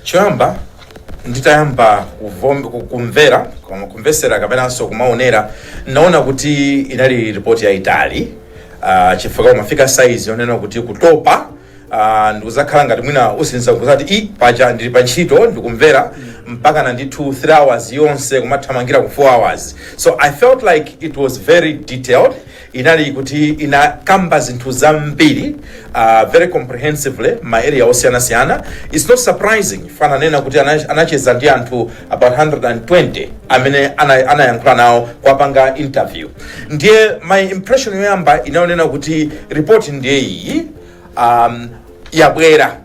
choyamba nditayamba kuvom- ku- kumvera koma kumvesera kapenanso kumaonera naona kuti inali ripoti yayitali uh, chifukwa umafika sayizi yonena kuti kutopa Ah, ndikuzakhala ngati mwina usinza kuzati i paja ndili pa ntchito ndikumvera mpaka na ndithu 3 hours yonse kumathamangira ku 4 hours so i felt like it was very detailed inali kuti inakamba zinthu zambiri ah, very comprehensively ma area osiyanasiyana it's not surprising paja ananena kuti ana- anacheza ndi anthu about 120 amene ana- anayankhula nawo kuwapanga interview ndiye my impression yoyamba inali yonena kuti report ndiye iyi um, yabwera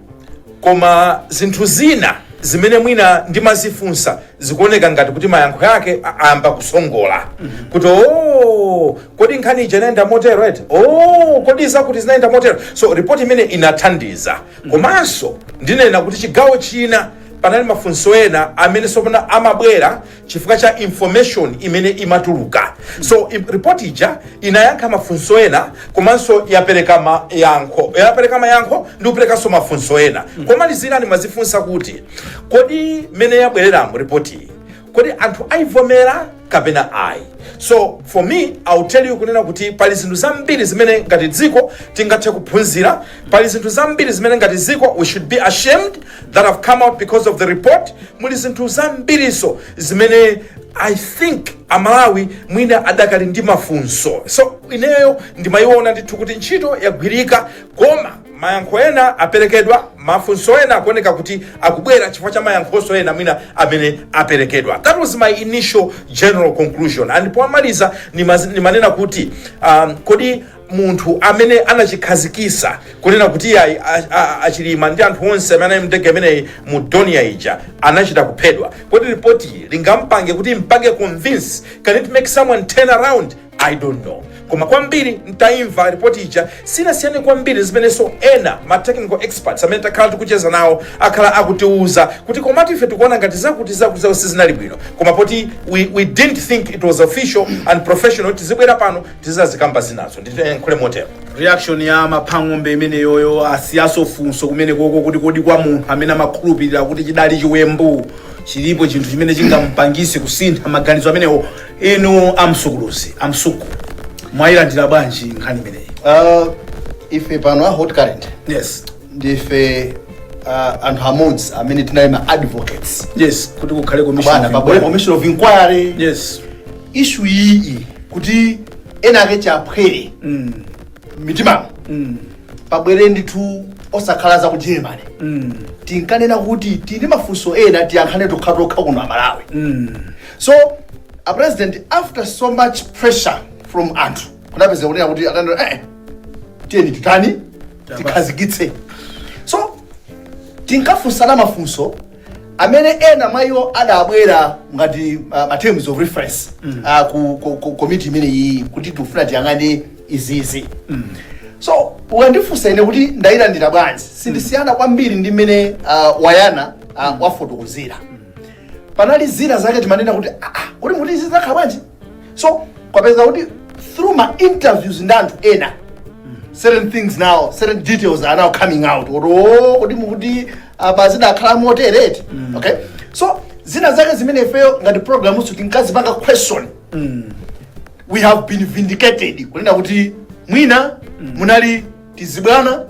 koma zinthu zina zimene mwina ndimazifunsa zikuoneka ngati kuti mayankho yake a- ayamba kusongola kuti o kodi nkhani ija inayenda motero eti o kodi zakuti zinayenda motero so report imene inathandiza komanso ndinena kuti chigawo china panali mafunso ena amene tsopano amabwera chifukwa cha information imene imatuluka so i- report ija inayankha mafunso ena komanso yapereka mayankho yapereka mayankho ndi kuperekanso mafunso ena komalizira ndimazifunsa kuti kodi mmene yabwereramu report iyi kodi anthu aivomera kapena ayi so for me i'll tell you kunena kuti pali zinthu zambiri zimene ngati dziko tingathe kuphunzira pali zinthu zambiri zimene ngati dziko we should be ashamed that have come out because of the report muli zinthu zambirinso zimene i think amalawi mwina adakali ndi mafunso so ineyo ndimayiona ndithu kuti ntchito yagwirika koma mayankho ena aperekedwa mafunso ena akuoneka kuti akubwera chifukwa cha mayankhonso ena mwina amene aperekedwa that was my initial general conclusion and pomaliza nimaz- nimanena kuti um, kodi munthu amene anachikhazikisa kunena kuti ayi a- a- achilima ndi anthu onse amene anali mndege imeneyi mu donia ija anachita kuphedwa kodi ripoti iyi lingampange kumpanga convince can it make someone turn around i don't know koma kwambiri ntaimva ripoti ija siinasiyane kwambiri zimenenso ena ma technical experts amene takhala tikucheza nawo akhala akutiuza kuti komatu ife tikuona ngati zakuti zakuti zawo sizinali bwino koma poti we, we didn't think it was official and professional tizibwera pano Tizazikamba zinazo ndiyankhule motero. Reaction ya a Mhango imeneyoyo asiyanso funso kumenekoko kuti kodi kwa munthu amene amakhulupirira kuti chidali chiwembu chilipo chinthu chimene chingamupangise kusintha maganizo amenewo inu a Msuku luzi a Msuku mwayilandira bwanji nkhani imeneyi Uh, ife pano a Hot Current yes ndife uh, anthu amodzi amene tinali ma advocates yes kuti kukhale commission bwana of pa inquiry. commission of inquiry yes ishu iyi kuti ena ake tsya ukaphwere mm. mitimamo mm. pabwere ndithu osakhala za ku germany mm. tinkanena kuti tili mafunso ena tiyankhane tokhatokha kuno aMalawi mm. so a president after so much pressure from anthu kunapezeka kunena kuti atanena eh, tiyeni titani tikhazikitse so tinkafunsana mafunso amene ena mwa iwo adabwera ngati ma terms of reference mm. uh, ku, ku, ku komiti imene iyi kuti tikufuna tiyang'ane izizi mm. so ukandifunsa ine kuti ndayilandira bwanji sindisiyana kwambiri ndi mmene uh, wayana uh, wafotokozera panali zina zake timanena kuti "Ah, ah, kodi mukuti izi zakhala bwanji so kwapezeka kuti through ma interviews ndi anthu ena certain things now certain details are now coming out kuti oh, kuti mukuti apa zidakhala motereti okay so zina zake zimene ifeyo ngati programutu tinkazipanga question we have been vindicated kunena kuti mwina munali tizibwana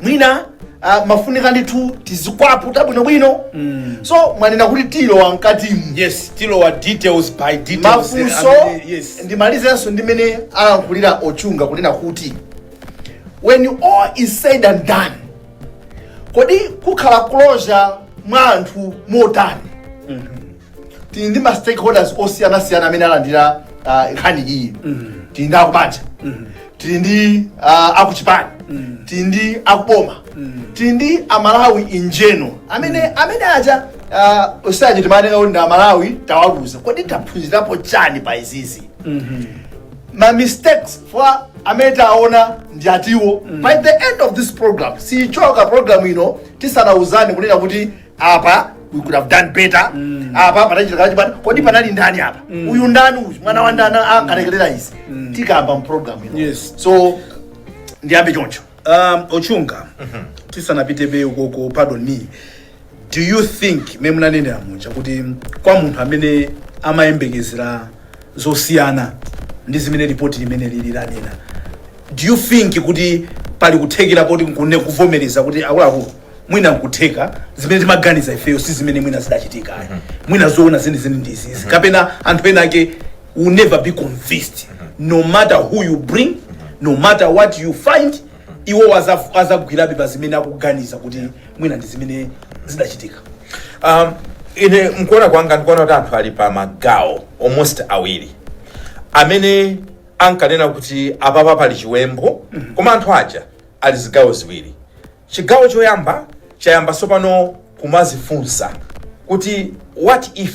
mwina ah, amafunika ndithu tizikwaputa bwinobwino so mwanena kuti tilowa mkatimu yes tilowa details by details mafunso amene- yes ndimalizenso ndi mmene alankhulira ochunga kunena kuti when all is said and done kodi kukhala closure mwa anthu motani tili ndi ma stakeholders osiyanasiyana amene alandira ah, nkhani iyi tili ndi akubanja tili ndi ah, akuchipani tili ndi akuboma tili ndi amalawi in general amene amene aja ah, osanje timanena kuti ndi amalawi tawaluza kodi taphunzirapo chani pa izizi ma mistakes four amene taona ndi ati by the end of this program sichoka program ino tisanauzani kunena kuti apa we could have done better mm. apa panachitika chibwana kodi panali ndani apa mm. uyu ndani uyu mwana wa ndani akalekelera izi mm. tikamba mprogramu ino yes. so ndiyambe choncho um, ochunga mm -hmm. tisanapite mbali ukoko pardon me do you think mmene munanenera muja kuti kwa munthu amene amayembekezera zosiyana ndi zimene ripoti limene lili lanena do you think kuti pali kuthekera koti nkuvomereza kuti akuluakulu mwina nkutheka zimene timaganiza ifeyo si zimene mwina zidachitika mm -hmm. mwina zoona zenizeni ndi izizi mm -hmm. kapena anthu ena ake will never be convinced mm -hmm. no matter who you bring mm -hmm. no matter what you find mm -hmm. iwo azagwirabe pa zimene akuganiza kuti mwina ndi zimene zidachitika um, ine mkuona kwanga ndikuona kuti anthu ali pa magawo almost awiri amene ankanena kuti apapa pali chiwembu mm -hmm. koma anthu aja ali zigawo ziwiri Chigawo choyamba chayamba tsopano kumazifunsa kuti what if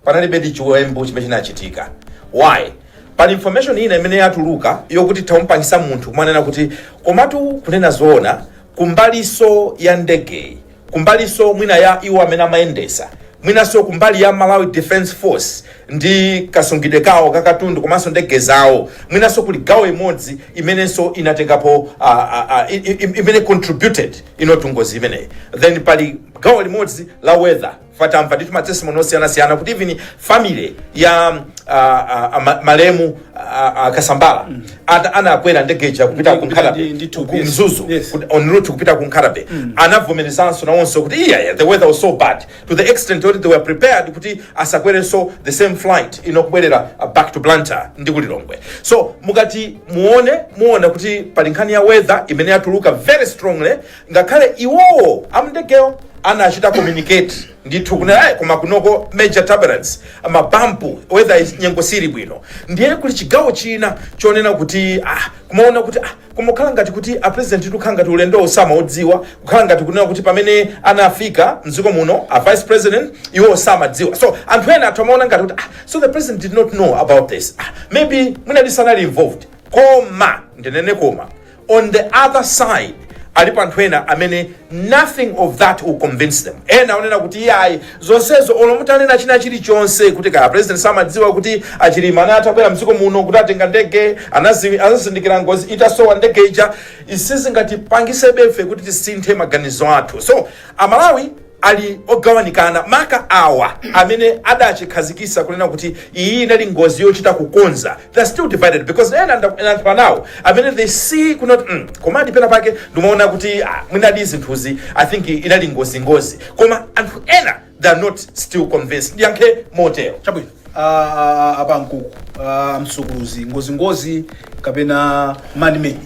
panalibedi chiwembu chimene chinachitika? Why? Pali information ina imene yatuluka yokuti zamupangisa munthu kumanena kuti komatu kunena zoona kumbaliso ya ndegeyi kumbaliso mwina ya iwo amene amayendesa mwinaso kumbali ya Malawi Defence Force ndi kasungidwe kawo ka katundu komanso ndege zawo mwinanso kuli gawo imodzi imenenso inatengapo uh, uh, uh, imene contributed into ngozi imeneyi then pali gawo limodzi la weather patamveka ndithu matestimoni osiyanasiyana kuti even family ya uh, uh, uh, ma- malemu uh, uh, Kasambara mm. anakwera ndege ija kupita Ndi- ku Nkhata Bay, ndi- into ku yes. mzuzu Yes. kuti- en route kupita ku Nkhata Bay anavomerezanso nawonso kuti iya yeah, the weather was so bad to the extent yoti they were prepared kuti asakwerenso the same flight in kubwerera uh, back to blantyre ndi ku lilongwe so mukati muone muona kuti pali nkhani ya weather imene yatuluka very strongly ngakhale iwowo amndegewo anachita communicate ndithu kunena "Ayi, koma kunoko major turbulence mabampu weather is- nyengo sili bwino ndiye kuli chigawo china chonena kuti ah, kumaona kuti ah, Koma kukhala ngati kuti a President kukhala ngati ulendowu samaudziwa, kukhala ngati kunena kuti pamene anafika m'dziko muno a Vice President iwowo samadziwa. So anthu ena atha kumaona ngati kuti ah, so the President did not know about this. Ah, maybe mwinadi sanali involved. Koma, ndinene koma, on the other side, alipo anthu ena amene Nothing of that will convince them. Ena onena kuti iyayi zonsezo olo mutanena china chilichonse kuti kaya president samadziwa kuti achilima anali atabwera mdziko muno kuti atenga ndege anazi- anazindikira ngozi itasowa ndege ija sizingatipangisebe ife kuti tisinthe maganizo athu so amalawi ali ogawanikana maka awa amene adachikhazikisa kunena kuti iyi inali ngozi yochita kukonza they're still divided because ena nda- ndayankhula nawo amene they see kunena kuti mm, komadi pena pake ndimaona kuti ah, mwinadi zinthuzi i think inali ngozingozi koma anthu ena they are not still convinced ndiyankhe motero chabwino a Pankuku a Msukuluzi ngozingozi kapena manmade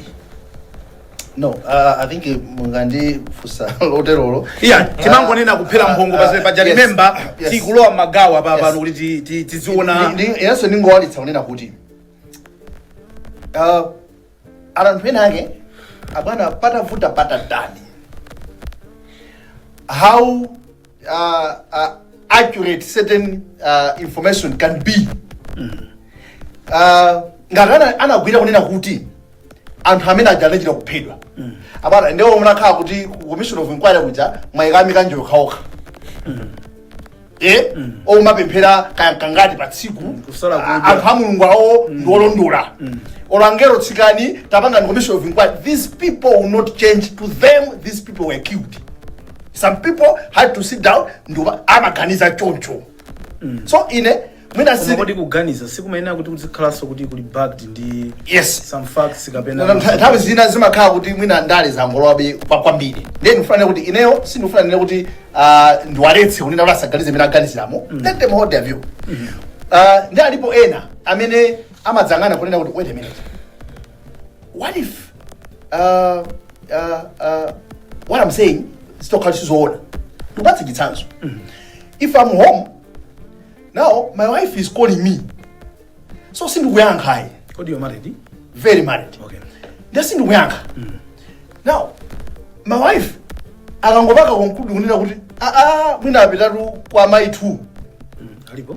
no uh, i think eh, mukandifunsa loterolo iya timangonena kupherera mphongo Ah, pasene paja yes, remember yes. tikulowa magawo apa Yes. pano kuti ti- ti- tiziona Ndi- ndi- inenso ndingowalitsa kunena kuti uh, anthu enaake abwana patavuta patatani how uh, uh, accurate certain uh, information can be uh, ngati ana- anagwira kunena kuti anthu amene aja anachita kuphedwa abwana ndiye munakhala kuti ku commission of inquiry kuja mwayikamika nje okhaokha omapemphera kangati pa tsiku Kusala kudya. A- anthu a Mulungu awo ndi olondola angelo tsikani tapangani commission of inquiry these people will not change to them these people were killed some people had to sit down ndipo amaganiza choncho so ine mwina koma si kodi kuganiza sikumayenera kuti kuzikhalanso kuti kuli backed ndi yes some facts kapena Nona ntha- nthawi zina zimakhala kuti mwina ndale zangolowabe kwa- kwambiri nde ndifuna kuti ineyo sindifuna kunena kuti ah, ndiwaletse kunena kuti asaganize mmene aganiziramo let them hold their view Ah, ndi alipo ena amene amadzayang'ana kunena kuti wait a minute what if uh, uh, uh, what i'm saying zitakhala sizoona ndikupatse chitsanzo if i'm home now my wife is calling me so sindikuyankha ayi kodi you married very married okay nde sindikuyankha now my wife akangopanga conclude kunena kuti aa mwina apitatu kwa mai 2 alipo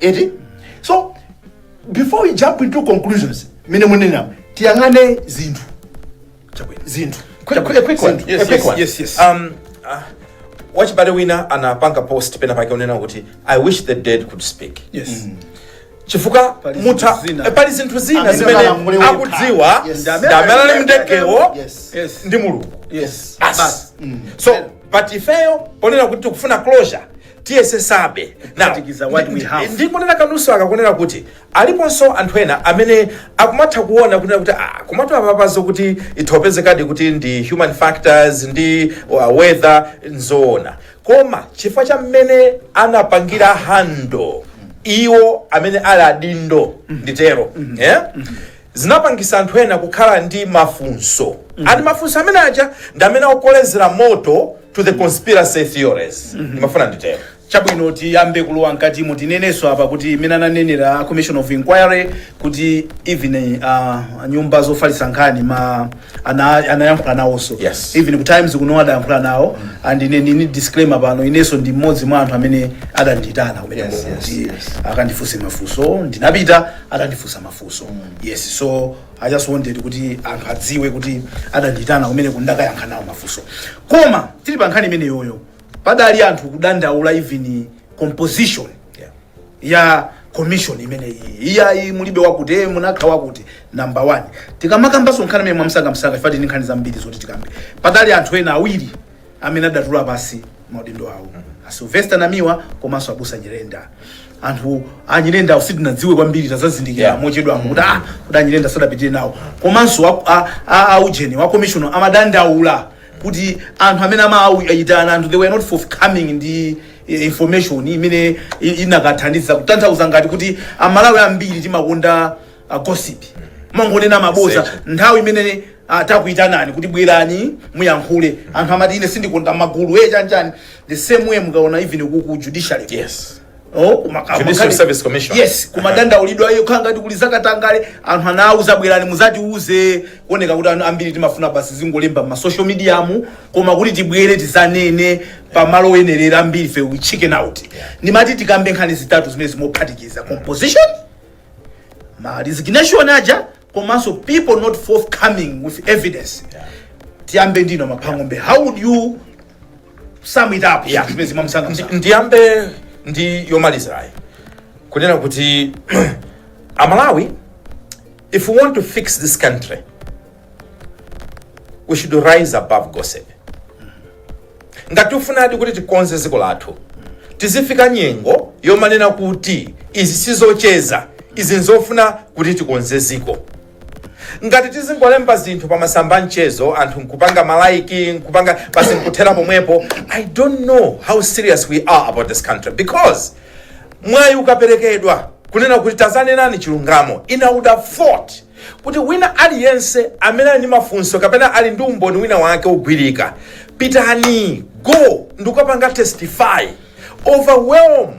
eti so before we jump into conclusions mmene munena tiyang'ane zinthu Chabwino. zinthu Quick, quick, a quick one. Yes, a quick yes, one. yes, yes. Um, uh, wachibale wina anapanga post pena pake kunena kuti i wish the dead could speak yes chifukwa Pali mutha zinthu zina. eh, pali zinthu zina Amene zimene amalamule wekha. akudziwa Yes. ndi amene ali mdegewo yes yes ndi Mulungu yes Basi. so but ifeyo ponena kuti tikufuna closure tiyesesabe Now, Kuphatikiza what we ndi- have. ndi- ndikunena kanuso kakunena kuti aliponso anthu ena amene akumatha kuona kunena kuti ah, komatu apapa zokuti itha kupezekadi kuti ndi human factors ndi uh, weather nzoona koma chifukwa cha mmene anapangira handle iwo amene ali adindo nditero yeah? zinapangisa anthu ena kukhala ndi mafunso and mafunso amene aja ndi amene akukolezera moto to the conspiracy theories ndimafuna nditero chabwino tiyambe kulowa mkatimo tinenenso apa kuti mmene ananenera commission of inquiry kuti even uh, nyumba zofalitsa nkhani ma ana, anayankhula nawonso Yes. even ku times kuno adayankhula nawo and ine ndini disclaimer pano inenso ndi mmodzi mwa anthu amene adanditana kumene Yes, yes, kuti yes. akandifunse mafunso ndinapita akandifunsa mafunso funso yes so i just wanted kuti anthu adziwe kuti adandiitana kumene kundakayankha nawo mafunso koma tili pa nkhani imeneyoyo padali anthu kudandaula even composition Yeah. ya commission imene iyi iyayi mulibe wakuti eh, munakakhala wakuti number one tikamakambanso nkhani imeneyi mwamsangamsanga chifukwa tili ndi nkhani zambiri zoti tikambe padali anthu ena awiri amene adatula pasi maudindo awo a Sylvester Namiwa komanso abusa Nyirenda ndithu a Nyirenda sitinadziwe kwambiri tazazindikira Yeah. mochedwamo kuti ah kuti a Nyirenda sadapitire nawo komanso a- a- a- a ujeni wa commissioner amadandaula kuti anthu amene amaayitana anthu they were not forthcoming ndi eh, information imene i- inakathandiza kutanthauza ngati kuti amalawi ambiri timakonda uh, gossip mongonena maboza Secho. nthawi imene atakuitanani kuti bwerani muyankhule anthu amati ine sindikonda magulu e chanchani the same way mukaona even ku ku judiciary Yes. Oh, kuma- kama- Judicial kani- Service Commission. yes kumadandaulidwa iyo khala ngati kuli zakatangale anthu anawuza bwerani muzatiuze kuoneka kuti anthu ambiri timafuna basi zingolemba m'ma social media mu koma kuti tibwere tizanene pamalo oyenerera ambiri fe we chicken out ndimati tikambe nkhani zitatu zimene ndikuphatikiza composition ma resignation aja komanso people not forthcoming with evidence tiyambe ndi inu a Mhango how would you sum it up Yeah. zimenezi mwamsanga Ndi- msanga ndiyambe ndi yomalizayo kunena kuti amalawi if we want to fix this country we should rise above gossip Ngati tifunadi kuti tikonze dziko lathu, tizifika nyengo yomanena kuti izi sizocheza, izi nzofuna kuti tikonze dziko. Ngati tizingolemba zinthu pa masamba a mchezo anthu nkupanga malaiki nkupanga basi nkuthera pomwepo, I don't know how serious we are about this country because mwayi ukaperekedwa kunena kuti tazanenani chilungamo, ine I would have thought Kuti wina aliyense amene ali ndi mafunso kapena ali ndi umboni wina wake wogwirika, pitani, go, ndikukapanga testify, overwhelm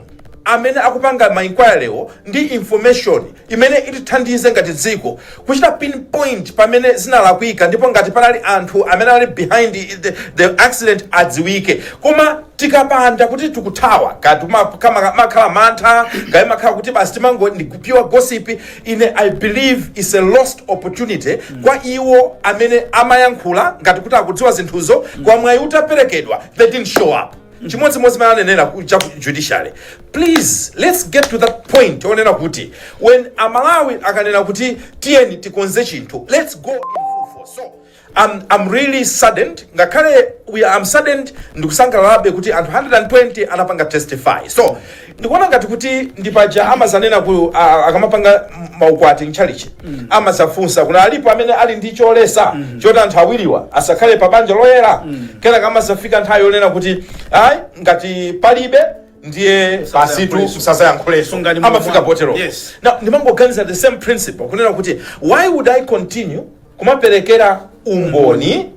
amene akupanga ma inquiry wo ndi information imene itithandize ngati dziko kuchita pinpoint pamene zinalakwika ndipo ngati panali anthu amene ali behind the, the accident adziwike. Koma tikapanda kuti tikuthawa, kaya timakhala mantha, kaya imakhala kuti basi timango ndi pure gossip, ine i believe it's a lost opportunity mm. kwa iwo amene amayankhula ngati kuti akudziwa zinthuzo mm. koma mwayi utaperekedwa they didn't show up mm. chimodzimodzi mmene munanenera cha judiciary please let's get to that point onena kuti when amalawi akanena kuti tiyeni tikonze chinthu let's go in full force so I'm, I'm really saddened ngakhale we are- I'm saddened ndikusangalalabe kuti anthu 120 anapanga testify so ndikuona ngati kuti ndi paja amazanena ku a- a- akamapanga m- maukwati mchalichi amazafunsa kuna alipo amene ali ndi choletsa choti anthu awiriwa asakhale pa banja loyera kenaka amazafika nthawi yonena kuti ayi ngati palibe ndiye pasitu Musazayankhuleso. musazayankhuleso Sungani moyo amafika wanu. potero Yes. Now, ndimangoganiza the same principle kunena kuti why would i continue kumaperekera umboni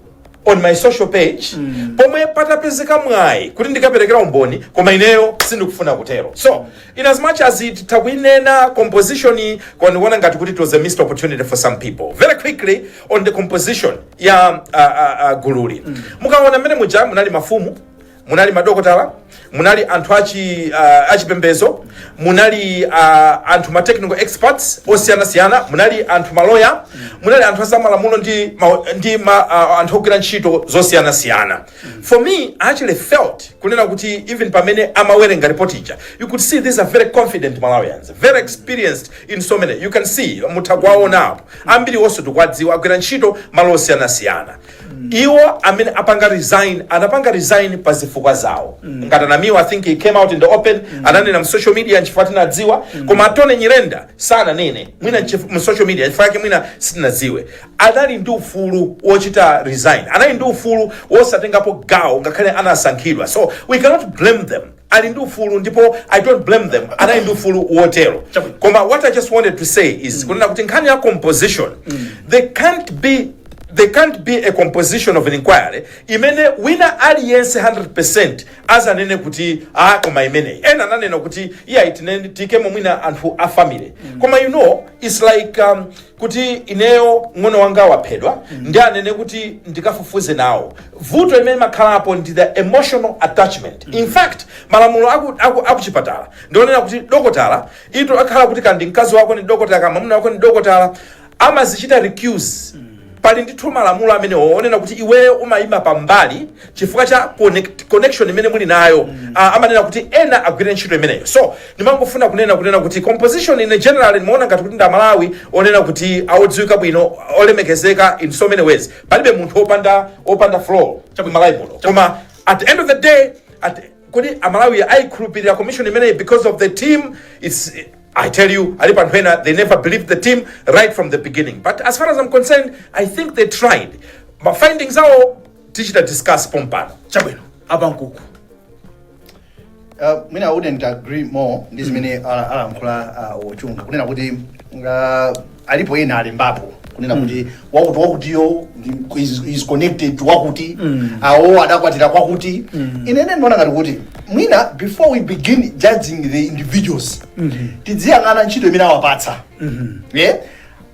on my social page mm. pomwe patapezeka mwayi kuti ndikaperekera umboni koma ineyo sindikufuna kutero so in as much as it tikuinena composition koma ndikuona ngati kuti it was a missed opportunity for some people very quickly on the composition ya uh, uh, uh, gululi mm. mukaona mmene muja munali mafumu munali madokotala munali anthu achi uh, achipembezo munali uh, anthu ma technical experts osiyanasiyana munali anthu maloya munali anthu azamalamulo ndi, ma, ndi ma, uh, anthu ogwira ntchito zosiyanasiyana for me i actually felt kunena kuti even pamene amawerenga report ija you could see these are very confident malawians very experienced in so many you can see mutha kuwaona apo ambiri onse tikuwadziwa agwira ntchito malo osiyanasiyana iwo amene anapanga resign anapanga resign pa zifukwa zawo ngati a Namiwa i think he came out in the open ananena mu social media nchifukwa tinadziwa koma a Tony Nyirenda sananene mwina nchif- mu social media chifukwa yake mwina sitinadziwe anali ndi ufulu wochita resign anali ndi ufulu wosatengapo gawo ngakhale anasankhidwa so we cannot blame them ali ndi ufulu ndipo i don't blame them anali ndi ufulu wotero Chabwino. koma what i just wanted to say is kunena kuti nkhani ya composition there can't be there can't be a composition of an inquiry imene wina aliyense 100% azanene kuti ah koma imeneyi ena ananena kuti iyayi tinene tiikemo mwina anthu a family koma you know it's like um, kuti ineyo mng'ono wanga waphedwa ndiye anene kuti ndikafufuze nawo vuto imene imakhalapo ndi the emotional attachment in fact malamulo aku- aku- akuchipatala ndionena kuti dokotala zitakhala kuti kaya ndi mkazi wako ni dokotala kapena mwamuna wako ndi dokotala amadzichita recuse pali ndithu malamulo amene onena kuti iweyo umayima pambali chifukwa cha connect, connection imene muli nayo mm. uh, amanena kuti ena agwire ntchito imeneyo so ndimangofuna kunena kunena kuti composition in general ndimaona ngati kuti ndi amalawi onena kuti odziwika bwino olemekezeka in so many ways palibe munthu opanda opanda flaw malawi muno koma at the end of the day at kodi amalawi aikhulupirira commission imeneyi because of the team it's I tell you, alipo anthu ena, they never believed the team right from the beginning. But as far as I'm concerned, I think they tried. Ma findings awo tichita discuss pompano chabwino a pa Nkuku Uh, mwina I wouldn't agree more ndi zimene ala- alankhula uh, a Chunga kunena kuti uh, alipo ena alembapo kunena kuti wakuti wakutiyo ndi- is, is connected to wakuti awo adakwatira kwakuti ine ine ndiona ngati kuti mwina before we begin judging the individuals tidziyang'ana ntchito imene awapatsa yeah?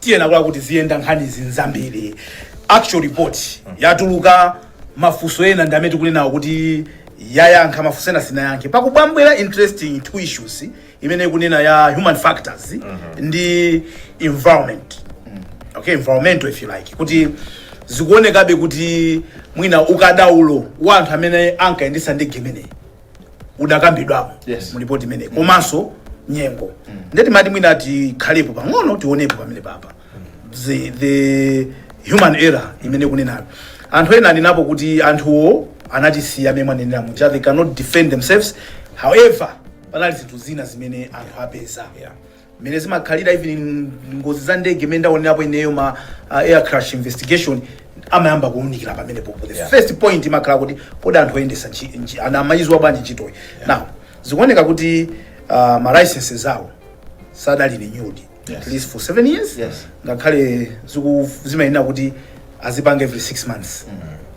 tiyenera kuti ziyenda nkhani ndi zambiri actual report yatuluka mafunso ena ndi amene tikunenawo kuti yayankha mafunso ena sinayankhe pakubwambwera interesting two issues imene ikunena ya human factors ndi environment okay environmental if you like kuti zikuonekabe kuti mwina ukadaulo wa anthu amene ankayendesa ndege imeneyi udakambidwapo Yes. mu ripoti imeneyi komanso nyengo nde timati mwina tikhalepo pang'ono tionepo pamenepapa the, the human error imene ikunenayo anthu ena anenapo kuti anthuwo anatisiya mmene mwanenera muja they cannot defend themselves however panali zinthu zina zimene anthu apeza mmene zimakhalira even ngozi za ndege imene ndaonerapo ineyo ma uh, air crash investigation amayamba kuunikira pamenepo the Yeah. first point imakhala kuti kodi anthu oyendesa nchi- nchi- ana amaidziwa bwanji ntchitoyi now zikuoneka kuti uh, ma licenses awo sadali renewed Yes. at least for seven years Yes. ngakhale ziku- zimayenera kuti azipanga every 6 months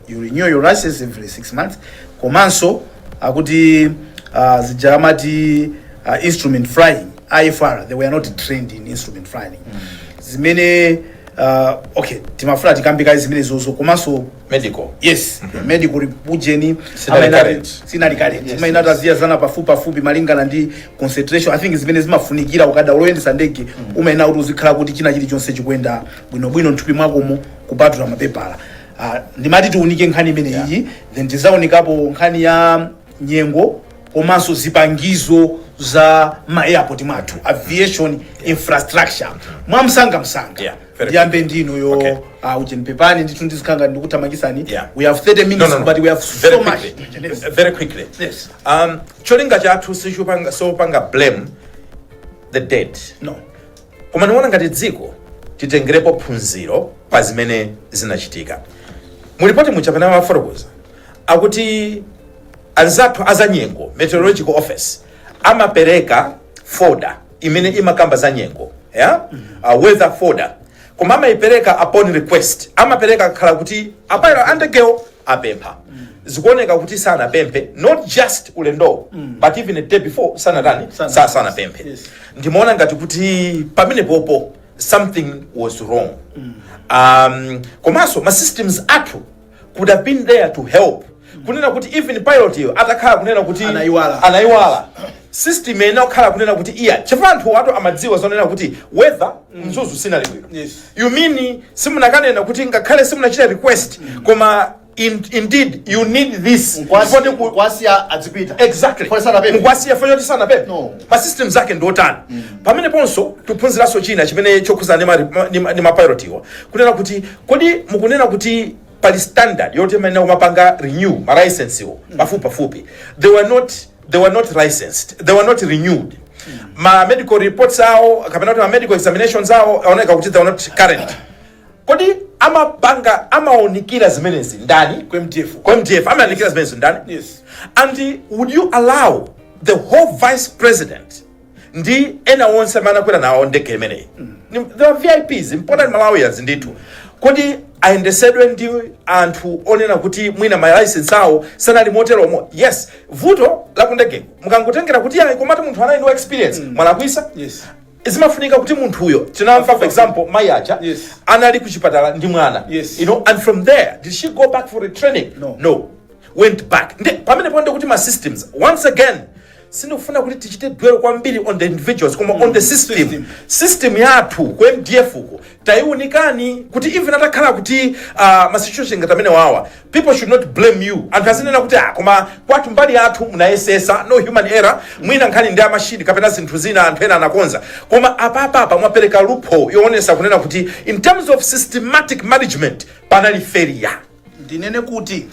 you renew your license every 6 months komanso akuti uh, zija amati uh, instrument flying IFR they were not trained in instrument flying zimene uh, okay timafuna tikambe kaye zimenezozo komanso medical yes medical report ujeni Sinali current. sinali current Yes, imayenera iziyezana pafupi pafupi malingana ndi concentration i think zimene zimafunikira ukadaulo oyendesa ndege umayenera kuti uzikhala kuti china chilichonse chikuyenda bwinobwino mthupi mwakomo kupatula mapepala uh, ndimati tiunike nkhani imeneyi yeah. then tidzaunikapo nkhani ya nyengo komanso zipangizo za ma airport mwathu aviation yeah. infrastructure mwamsangamsanga yeah. ndiyambe ndi inuyo okay. uh, ujeni pepani ndithu ndizikhala ndikuthamangitsani yeah. we have 30 minutes no, no, no. but we have so very much quickly. Yes. very quickly yes. um, cholinga chathu sichopanga sopanga blame the dead no Koma ndi kuona ngati dziko titengerepo phunziro pa zimene zinachitika. Mu lipoti muja pamene amafotokoza akuti anzathu azanyengo meteorological office amapereka folder imene imakamba za nyengo yeah? uh, weather folder koma amaipereka upon request amapereka kakhala kuti a pilot a ndegewo apempha zikuoneka kuti sanapemphe not just ulendowo but even a day before sanatani Sana- sa sanapemphe Yes. ndimaona ngati kuti pamenepopo something was wrong um, komanso ma systems athu could have been there to help kunena kuti even pilot yo atakhala kunena kuti Anaiwala. anaiwala system iyenera kukhala kunena kuti iya chifukwa anthu athu amadziwa zonena kuti weather mzuzu siinali bwino Yes. you mean simunakanena kuti ngakhale simunachita request koma in, indeed you need this Mkwasi- Ndipo ndiku- mkwasiya adzipita exactly Pole sana pepe. mukwasiya fanyo kuti sanapepese No. ma system zake ndi otani pamene ponso tiphunziranso china chimene chokhudzana ndi ma- ma- ndi ma- ndi mapilot iwa kunena kuti kodi mukunena kuti pali standard yoti imayenera kumapanga renew ma license iwo pafupi pafupi they were not they were not licensed they were not renewed ma medical reports awo kapena kuti ma medical examinations awo aoneka kuti they were not current kodi amapanga amaonikira zimenezi ndani ku mdf ku mdf amaonikira zimenezi ndani Yes. and would you allow the whole vice president ndi ena onse amene anakwera nawo ndege imeneyi Ni- they are vips important malawians ndithu kodi ayendesedwe ndi anthu onena kuti mwina malaisensi awo sanali moteromo yes vuto lakundege mukangotengera kuti ayi komatu munthu anali ndi experience mwalakwisa Yes. zimafunika kuti munthuyo tinamva for example mayi aja Yes. anali kuchipatala ndi mwana Yes. you know and from there did she go back for retraining No. no went back Nde, pamenepo nde kuti ma systems once again sindikufuna kuti tichite dwell kwambiri on the individuals koma on the system system. system yathu ku mdf ko tayiunikani kuti even atakhala kuti uh, ma situation ngati amene wawa people should not blame you anthu azinena kuti ah, koma kwanu mbali yanu munayesesa no human error mwina nkhani ndi ya mashini kapena zinthu zina anthu ena anakonza koma apapapa mwapereka loophole yoonesa kunena kuti in terms of systematic management panali failure ndinene kuti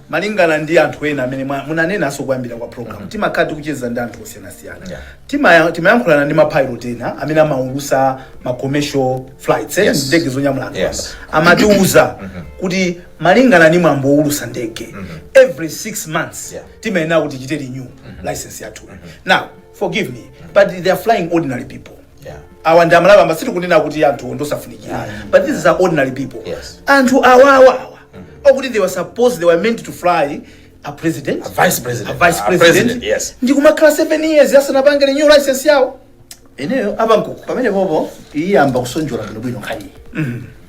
malingana ndi anthu ena amene mwa- munanenanso kumayambiriro kwa program timakhala tikucheza ndi anthu osiyanasiyana Yeah. Timaya- timayankhulana ndi mapilot ena amene amaulusa ma commercial flights eh, Yes. ndege zonyamula anthu Yes. amba. amatiuza kuti malingana ndi mwambo woulusa ndege every 6 months Yeah. timayenera kuti tichite renew license yathu now forgive me but they are flying ordinary people Yeah. awa ndi amalawi amba sitikunena kuti anthu ndosafunikira but these are ordinary people Yes. anthu awawa awa okuti they were supposed they were meant to fly a president A vice president. a vice A president, president, yes. ndi kumakhala 7 years asanapange renew license yawo ineyo a Bamkuku pamenepopo iyamba kusonjola bwinobwino nkhaniyi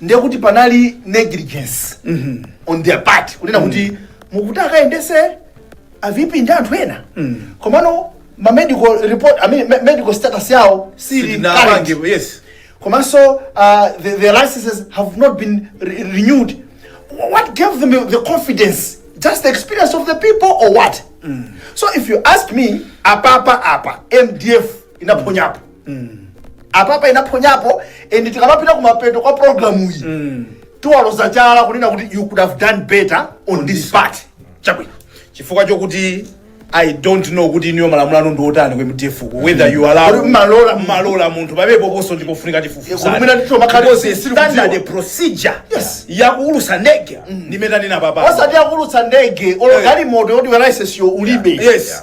ndiye kuti panali negligence on their part kunena kuti mukuti akayendese a VP ndi anthu ena komano ma medical report I mean, me- medical status yawo sili current. Sitinapange, yes. komanso uh, the, the licenses have not been renewed what gave them the confidence just the experience of the people or what so if you ask me apapa apa mdf inaphonyapo apapa inaphonyapo and tikamapita kumapeto kwa programu iyi tiwaloza chala kunena kuti you could have done better on this part chabwino chifukwa chokuti i don't know kuti iniyo malamulo anu ndi otani ku mdf ku whether you allow Kodi mmalola- mmalola munthu pabepo ponso ndipofunika Eh, kodi mwina ticho makhali- sili kudziwa. tifufuza standard procedure Yes. yakuulusa ndege ndimmene tanena apapa osati akulutsa ndege olo Eh. galimoto yoti license yo ulibe Yes.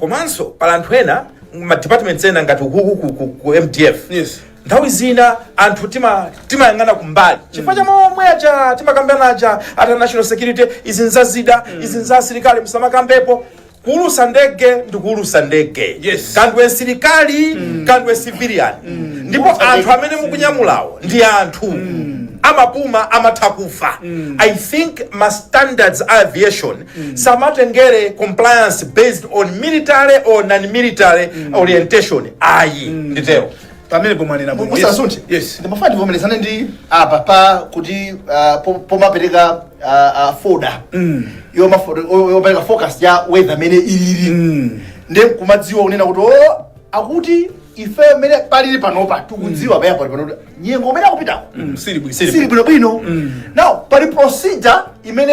komanso pali anthu ena ma departments ena ngati ukuku ku, ku, ku mdf Yes. nthawi zina anthu tima timayang'ana kumbali chifukwa cha momwe aja timakambirana aja ata national security izi nzazida izi nza asilikali musamakambepo kuulusa ndege ndi kuulusa ndege Yes. kaya ndiwe msilikali kaya ndiwe civilian ndipo anthu amene mukunyamulawo ndi anthu amapuma amatha kufa i think ma standards a aviation samatengere compliance based on military or non-military orientation ayi nditero pamene pomwe mwanena bwino. Yes. musasunthe Yes. ndimafuna ndivomerezane ndi apapa kuti ah, po- pomapereka ah, ah, folder Yomafo- yo- yopereka forecast ya weather mmene ilili ndi kumadziwa kunena kuti o akuti ife mmene palili panopa tikudziwa pa airport panopa nyengo kumene akupitako Mm, sili bwino. sili bwinobwino now pali procedure imene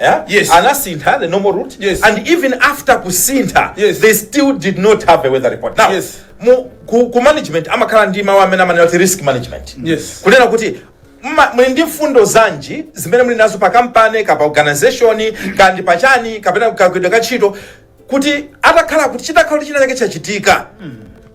Yeah? Yes. Anasintha the normal route. Yes. And even after kusintha, Yes. they still did not have a weather report. Now, Yes. mu, ku, ku management amakhala ndi mawu amene amanena kuti risk management. Yes. Kunena kuti mma- muli ndi mfundo zanji zimene muli nazo pa kampani kapena organization kaya ndi pachani kapena kagwidwe ka ntchito kuti atakhala kuti chitakhala kuti china chake chachitika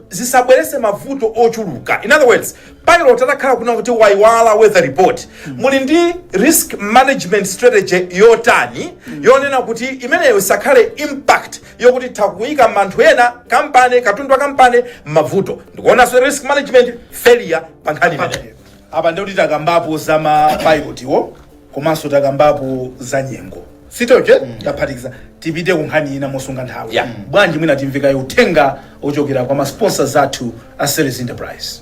zisabwerese mavuto ochuluka in other words pilot atakhala kunena kuti waiwala weather report muli ndi risk management strategy yotani yonena kuti imeneyo isakhale impact yokuti itha kuyika anthu ena kapena katundu wa kampani mmavuto ndikuonanso risk management failure pa nkhani imeneyo apa ndikuti takambapo za mapilotiwo komanso takambapo za nyengo zitochi taphatikiza tipite ku nkhani ina mosunga nthawi Yeah. bwanji mwina timve kaye uthenga ochokera kwa masponsors athu a series enterprise